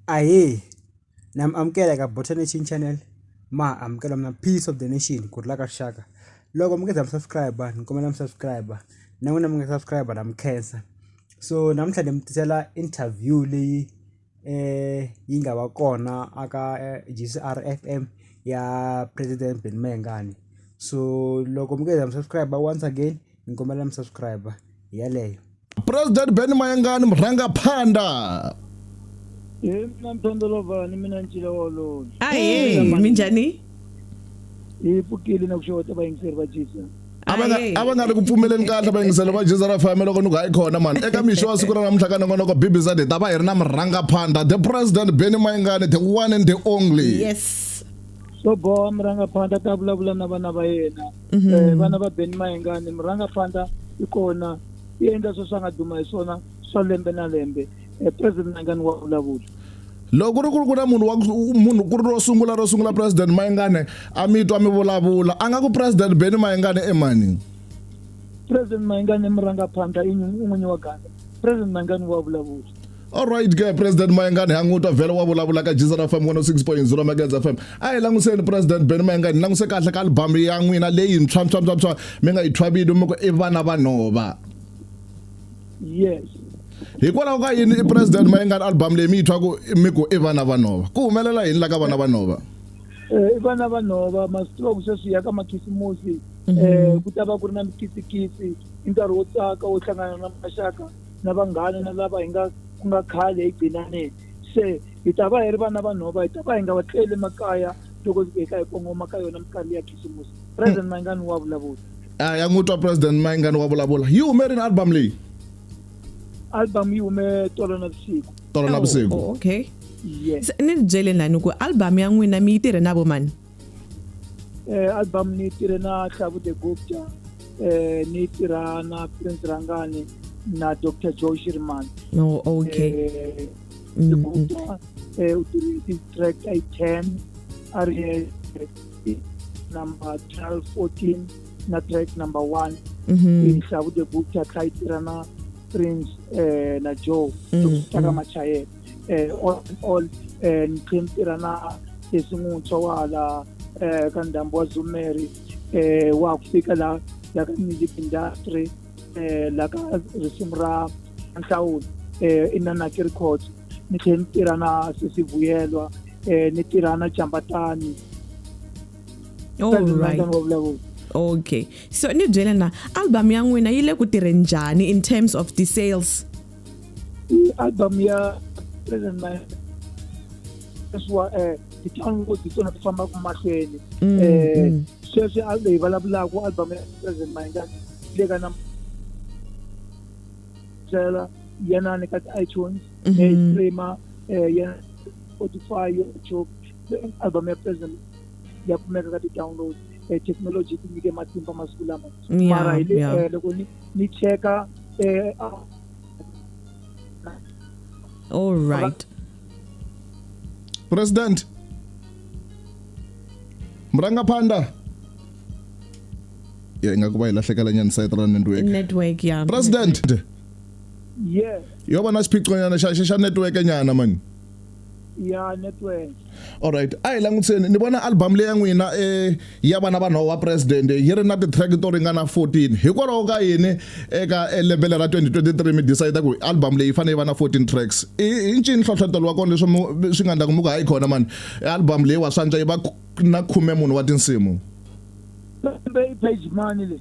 Ahee na mi amukela eka Botanic Channel ma ha amukela mina Peace Of The Nation ku rhula ka rixaka loko mi nga se za mi subscribe ni kombela mi subscribe na n'wina mi nga subscribe na mi khensa so namuntlha ni mi tisela interview leyi yi nga va kona a ka G_C_R F_M ya president Benny Mayengani so loko mi nga se za mi subscribe once again ni kombela mi subscribe hi yaleyo. president ben mayangani murhangaphanḓa Hey, mina mpendolova ni mina ncila wolowo ahee minjhani hi pfukile na ku xeweta vayingiseri va jesus a va nga- Ahee. a va nga ri ku pfumeleni kahle vayingiselo va jesus ra fm loko ni ku hayi khona mani eka mixo wa siku ra namuntlha ka nongonoko bbz hi ta va hi ri na murhangaphanḓa the president ben mayangani the one and the only yes so boha murhangaphandla ta vulavula na vana va yena Mhm. Eh, vana va beni mayengani murangapfanda i kona i endla sweswi a nga duma hi swona swa lembe na lembe Eh, president mayengani wa vulavula loko ku ri ku ri ku na munhu wa ku- munhu ku ri ro sungula ro sungula president mayengane a mi twa mi vulavula a nga ku president beni mayengane emani president mayengani i murangapfanda i nyi- i n'winyi wa ganda president mayengani wa vulavula Alright ke President Mayengani ha n'witwa vhele wa vulavula ka Jesus FM 106.0 Megas FM. A hi languseni President Ben Mayengani languse kahle ka album ya n'wina leyi ntshwa ntshwa ntshwa ntshwa mi nga yi thwa vito mi ku i vana va nhova. Yes. Hikwalaho ka yini i President Mayengani album leyi mi yi thwaku mi ku i vana va nhova. Ku humelela yini la ka vana va nhova? Eh i vana va nhova masiku ku sweswi ya ka makhisimusi mhm. eh ku ta va ku ri na mikisikisi i nkarhi wo tsaka wo hlangana na maxaka na vanghana na lava hi nga ku nga khale hi gcinaneni se hi ta va hi ri vana va nhova hi ta va hi nga va tleli makaya loko hi ka hi kongoma ka yona minkarhi ya khisimusi president hmm. mayingani wa vulavula a ya n'wi twa president mayingani wa vulavula yi hume rini album leyi album yi hume tolo na vusiku tolo na vusiku oh, oh, okay ni byele nani ku album ya n'wina mi yi tirhe na vo mani eh, album ni tirhe na hlavu the gupta eh, ni tirha na prince rangani na dr joe shirman no oh, okay eh, mm, mm. gupta eh, u tirhe ti-track i ten a ri eh, number twelve fourteen na track number one mm-hmm. hlavu the gupta kha yi tirha na prince eh, na joe mm, taka machayela eh, all in all eh, niqhimtira na esimutswa wala eh, ka ndhambi wa zumeri eh, wa ku fika la la ka music industry eh, la ka risimu ra nhlawulo eh, inanaki records ni tlhela ni tirha na sesivuyelwa eh, ni tirha na jambatani Alright. vulavula okay so ni byele na album ya n'wina yi le ku tirheni njhani in terms of the sales i album ya present my leswa eh ti-downloads hi tona ti fambaka mahlweni Mm, eh mm. sweswi a leyi vulavulaka album ya present my nga le ka na tsela yena ni ka ti-itunes Mhm. eh streamer eh yena spotify youtube eh, album ya present ya kumeka ka ti-downloads eh technology ti nyike matimba masiku lama Yeah, mara hi le yeah. eh, loko ni ni cheka eh, all right president murangaphanḓa ya inga ku va hi lahlekela nyana site ra network network ya president yes yo va na xiphiqonyana xa xa- xa network nyana mani ya network alright a hi langutiseni ni vona album leyi ya n'wina eh, ya vana vanhu wa president yi ri na ti-track to ringana 14 hikwalaho ka yini eka eh, lebele ra 2023 mi decide ku album leyi fanele yi va na 14 tracks i ncini nhlohlotelo wa kona leswi swi nga ndlaku mi ku hayi khona mani album leyi wa swantswa yi va na khume munhu wa tinsimu page mani leyi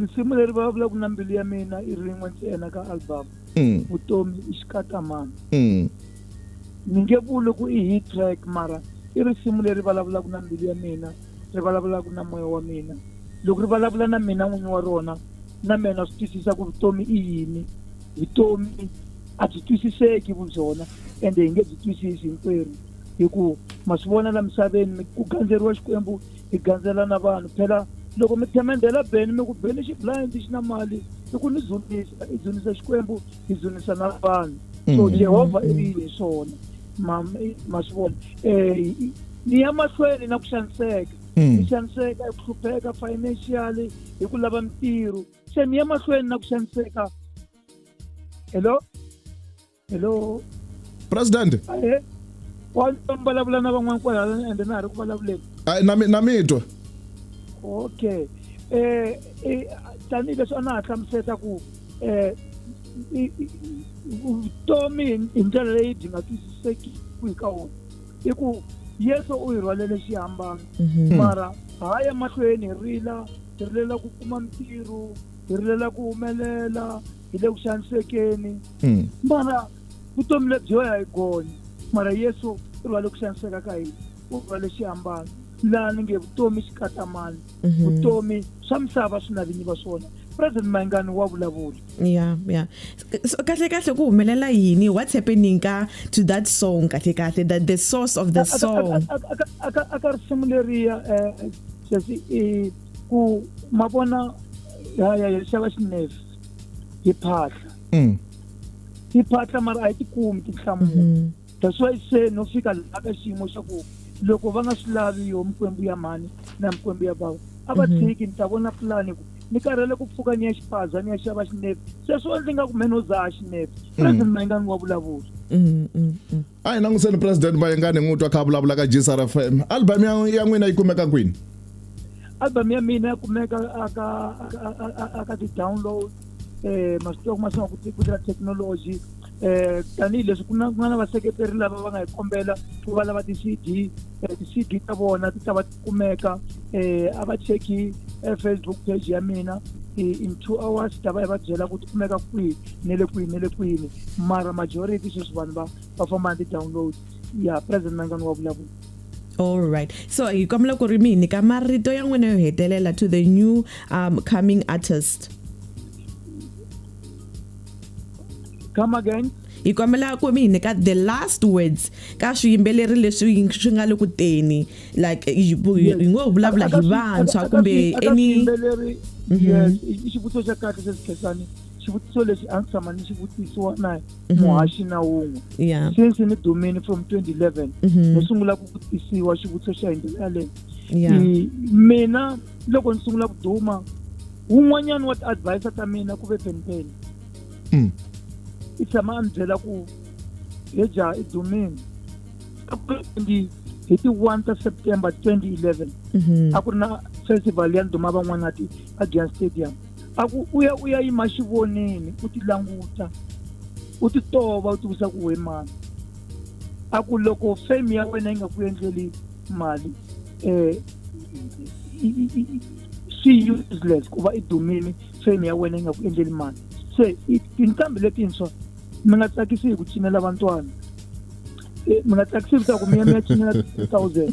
risimu leri vulavulaka na mbilu ya mina i rin'we ntsena ka album mm. vutomi i xikatamana mm. ni nge vuli ku i hit track mara i risimu leri vulavulaka na mbilu ya mina ri vulavulaka na moya wa mina loko ri vulavula na mina n'winyi wa rona na mina swi twisisa ku vutomi i yini vutomi a byi twisiseki vu byona ende hi nge byi twisisi hinkwerhu hi ku ma swi vona la misaveni ku gandzeriwa xikwembu hi gandzela na vanhu phela loko mi themendhela beni mi ku beni xi blind xi na mali i ku ni dzunisa i dzunisa xikwembu i dzunisa na vanhu so mm. jehovha i ri hi swona ma ma swi vona um ni ya mahlweni na ku xaniseka ni mm. xaniseka hi ku hlupheka financially hi ku lava mintirho se ni ya mahlweni na ku xaniseka hello hello president eh, wa vulavula na van'wana kwalala ende na ha ri ku vulavuleni na mi na mi twa okay eh, eh tanihileswi a na ha hlamuseta ku eh vutomi hi ndlela leyi byi nga twisiseki ku hi ka wona i ku yesu u hi rhwalele xihambano mhm. mara ha ya mahlweni hi rila hi rilela ku kuma mintirho hi rilela ku humelela hi le ku xanisekeni hmm. mara vutomi lebyi wena hi gonye mara yesu i va le ku xaniseka ka hina u va le xiambalo laha ni nge vutomi xi katamani mhm. vutomi swa misava swi na vinyi va swona president mayingani wa vulavula ya ya so kahle kahle ku humelela yini what's happening ka to that song kahle kahle the, the source of the song aka risimu leriya um eh, sesi ku ma vona ya ya ya xava xinefu hi phahla mm. hi phahla mara a yi tikumi tinhlamulo mm-hmm. that's why se no fika laha ka xiyimo xa ku loko va nga swi lavi yo mikwembu ya mhani na mikwembu ya bava a va mm-hmm. tshiki ni ta vona pulani ku ni karhele ku pfuka ni ya xipaza ni ya xava xinepi sweswo ndzi nga ku mheni wo dzaha xinepi mm. president mayingani wa vulavula mm, a hi languseni president mayengani n'wi twa kha vulavula ka gsr f m album ya n'wina yi kumeka kwini album ya mina ya kumeka aka aka ti-download um masiku ya ku masinga ku tirha technology um tanihileswi ku na ku nga na vaseketeri lava va nga hi kombela ku va lava ti-cd um ti-cd ta vona ti ta va kumeka eh a va cheki eh, facebook page ya mina eh, in two hours ta va yi va byela ku ti kumeka kwihi ne le kwihi ne le kwini mara majority sweswi vanhu va va famba ni ti-download ya president mangani wa vulavula all right so hi kombela ku ri mi hi nyika marito ya n'wina yo hetelela to the new um, coming artist come again hi kombela ku mi hi nyika the last words ka swiyimbeleri leswi swi nga le ku teni like hi ngo ho vulavula hi vantshwa kumbe any mhm. i xivutiso xa kahle sesikhesani xivutiso lexi a ndzi tshama ni xi vutisiwa na mhm. muhaxi na wun'we since ni dumini from 2011 mhm. ni sungula ku vutisiwa xivutiso xa hi ndlela yaleyo mina loko ni sungula ku duma wun'wanyana wa ti-advisor ta mina ku ve penipeni mm. i tshama a ni byela ku heja i dumini hi ti 1 ta september 2011 mhm. a ku ri na festival ya ndhuma van'wanati a giyan stadium a ku u ya u ya yima xivoneni u ti languta u ti tova u tivisa ku we mani a ku loko fame ya wena yi nga ku endleli mali um swi useless ku va i dumile fame ya wena yi nga ku endleli mali se tinqambi letintshwa mi nga tsakisi hi ku cinela vantwana mi nga tsakisi hi ku mi ya mi ya cinela ti-three thousand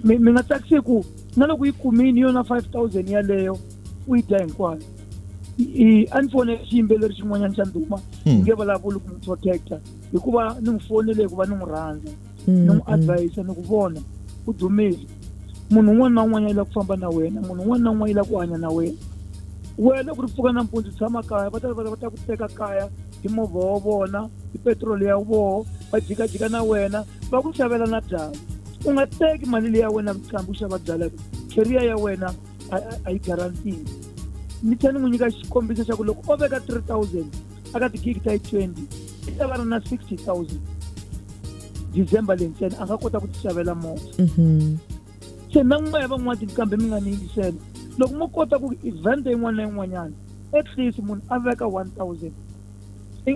mi nga tsakisi hi ku na loko yi kumini yona five thousand yaleyo u yi dya hinkwayo a ni fone xiyimbeleri xin'wanyana xa ndhuma hmm. nge vulavuli ku n'wi protecta hikuva ni n'wi fonele hikuva ni n'wi rhandza ni n'wi advise ni ku vona u dumile munhu un'wana na un'wana yi lava ku famba na wena munhu un'wana na un'wana yi lava ku hanya na wena wena ku ri pfuka nampundzu tshama kaya va ta va ta ku teka kaya hi movha wa vona hi petiroli ya voho va jikajika na wena va ku xavela na byala u nga teki mali leyi ya wena vuqambi u xava byala kheriya ya wena a yi garantini ni tlhela ni n'wi nyika xikombiso xa ku loko o veka three thousand a ka tigigi ta yi 20 i ta va ri na 60000 december leyi ntsena a nga kota ku tixavela movha mhm. se na n'wana ya van'wana tinkambe mi nga ni yingisela loko mo kota ku event yin'wana na yin'wanyana at least munhu a veka 1000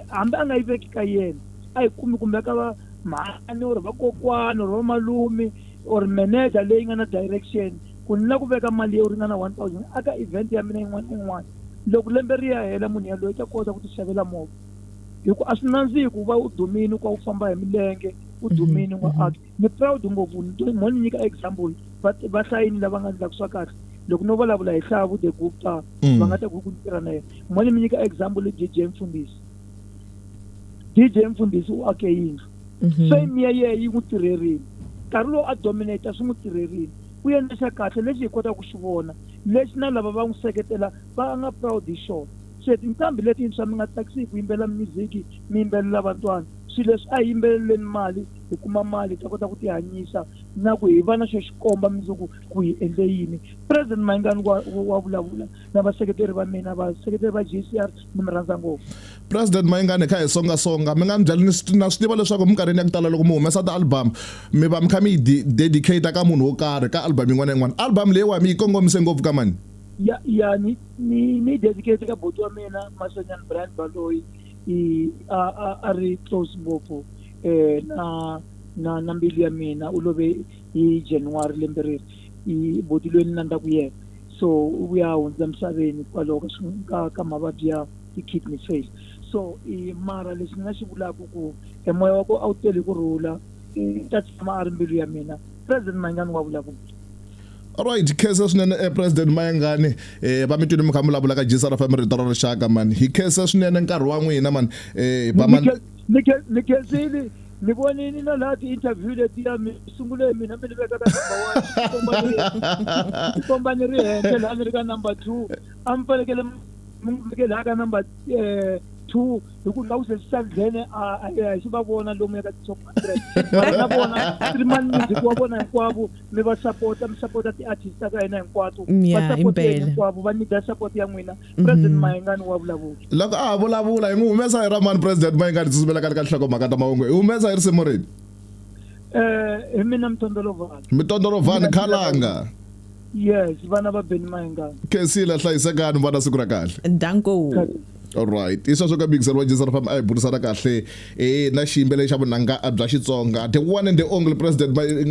hambi a nga yi veki ka yena a yi kumi kumbe ka va mhani or vakokwani or vamalume or manager leyi nga na direction Ku ni la ku veka mali yo ringana 1000 aka event ya mina yin'wana ni yin'wana. Loko lembe ri ya hela munhu yaloye u ta kota ku tixavela movha. Hi ku a swi nandzihi ku va u dumini u kha u famba hi milenge u dumini u nga acti. Ni proud ngopfu ni to mo ni nyika example va va hlayini lava nga ndlaku swa kahle loko no vulavula hi Hlavu the Gupta va nga ta ku ku ni tirha na yena. Mo ni mi nyika example i JJ Mfundisi. dj mfundhisi u ake yindlu mhm. fame ya yena yi n'wi tirherile nkarhi lowu a dominata swi n'wi tirherile u endle xa kahle lexi hi kotaka ku xi vona lexi na lava va n'wi seketela va nga proud hi xona se tinqambi letintshwa mi nga tsakisi hi ku yimbelela music mi yimbelela vantwana swilo leswi a hi yimbeleleni mali hi kuma mali hi ta kota ku tihanyisa na ku hi va na xo xikomba mundzuku ku hi endle yini president mayingani wa wa vulavula na vaseketeri va mina vaseketeri va g c r ni mi rhandza ngopfu president mayingani kha hi songa songa mi nga mi byali na swi tiva leswaku minkarhini ya ku tala loko mi humesa ti-album mi va mi kha mi yi dedicate ka munhu wo karhi ka album yin'wana na yin'wana album leyiwa mi yi kongomise ngopfu ka mani ya ya ni ni ni dedicate ka boti wa mina masonyana brian baloyi i a a a ri close ngopfu eh na na na mbilu ya mina u love hi january lembe reri i boti loyi ni nandzaka yena so u vuya a hundza emisaveni hikwalaho ka swi- ka ka mavabyi ya ti-kidney fail so i mara lexi ni nga xi vulaka ku e moya wa ku a wu tele ku rhula u ta tshama a ri mbilu ya mina president mayingani wa vulavula alright khesa swinene eh, president mayangani eh, va mi twile mi kha mi vulavula ka gsrfm rito ra rixaka mani hi khesa swinene nkarhi wa n'wina mani eh, hi ba mani- Nyike- mi khe- mi khensile mi vonini na laha ti-interview letiya mi sungule mina mi ni veka ka number one ni komba ni ri henhla laha ni ri ka number two a mi fanekele mi mi n'wi veke laha ka number eh, two hi ku laha ku se swi sa nghene a a a hi xi va vona lomu ya ka ti-top hundred mara na vona streaman music wa vona hinkwavo mi va sapota mi sapota ti-artist ta ka hina hinkwato Yeah, va sapoteni impela. hinkwavo va nyika support ya n'wina mhm. president mayengani wa vulavula loko a ha vulavula hi n'wi humesa hi ra mani president mayengani tsutsumela ka le ka nhlokomhaka ta mahungu hi humesa hi risimu rini eh hi mina mtondolovan mtondolovan khalanga yes vana va beni mayengani khensile hlayisekani vana siku ra kahle danko alright i sweswo ka mikiselo wa jesu ri famba a hi burisana kahle eh na xiyimbeleri xa vunanga bya xitsonga the one and the only president